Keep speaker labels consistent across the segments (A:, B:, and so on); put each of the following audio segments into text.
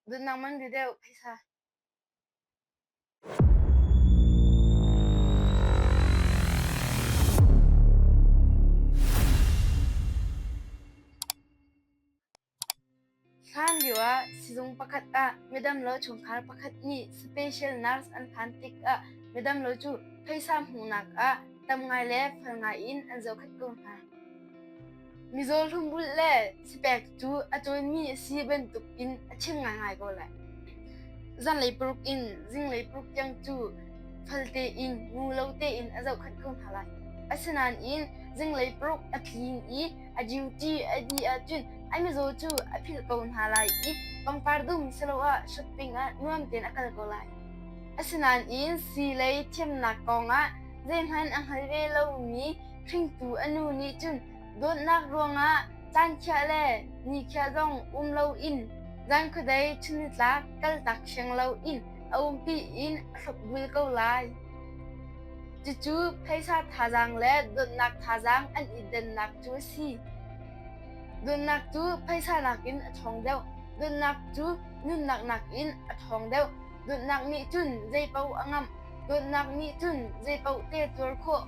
A: Nunnak man ri deuh hei sa. Hlan lioah sizung pakhat ah midamlo chungkhar pakhat nih special nurse an phan tikah midamlo cu pheisa hmuhnak ah tam ngai le fel ngai in an zohkhenh ko hna. Mizaw hlumrulh le cipek cu a cawnmi a si bantukin a chim ngaingai ko lai. Zanlei paruk in zinglei paruk tiang cu falte in ngu lo tein a zohkhenh ko hna lai. Asinain zinglei paruk a tlin i a duty a dih ahcun ai mizaw cu a philh ko hna lai i pangpar dum siloah shopping ah nuam tein a kal ko lai. Asinain sii lei thiamnak kongah zeihmanh a hngal ve lomi Hringtu a nu nih cun dawtnak ruangah caankhia le nikhia zong um loin zankhuadei chunitlak kaltak siang loin a umpi in a hrukvul ko lai. Cucu phaisa thazaang le dawtnak thazaang an i dennak cu a si. Dawtnak cu phaisa nakin a ṭhawng deuh. Dawtnak cu nunnak nakin a ṭhawng deuh. Dawtnak nih cun zeipaoh a ngamh. Dawtnak nih cun zeipaoh te tuar khawh.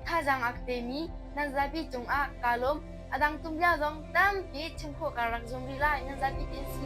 A: Thazaang a ka temi nan zapi cungah kaa lawm. A dang tumlia zong tampi chim khawh kaa rak zuam rih lai. Nan zapi te si.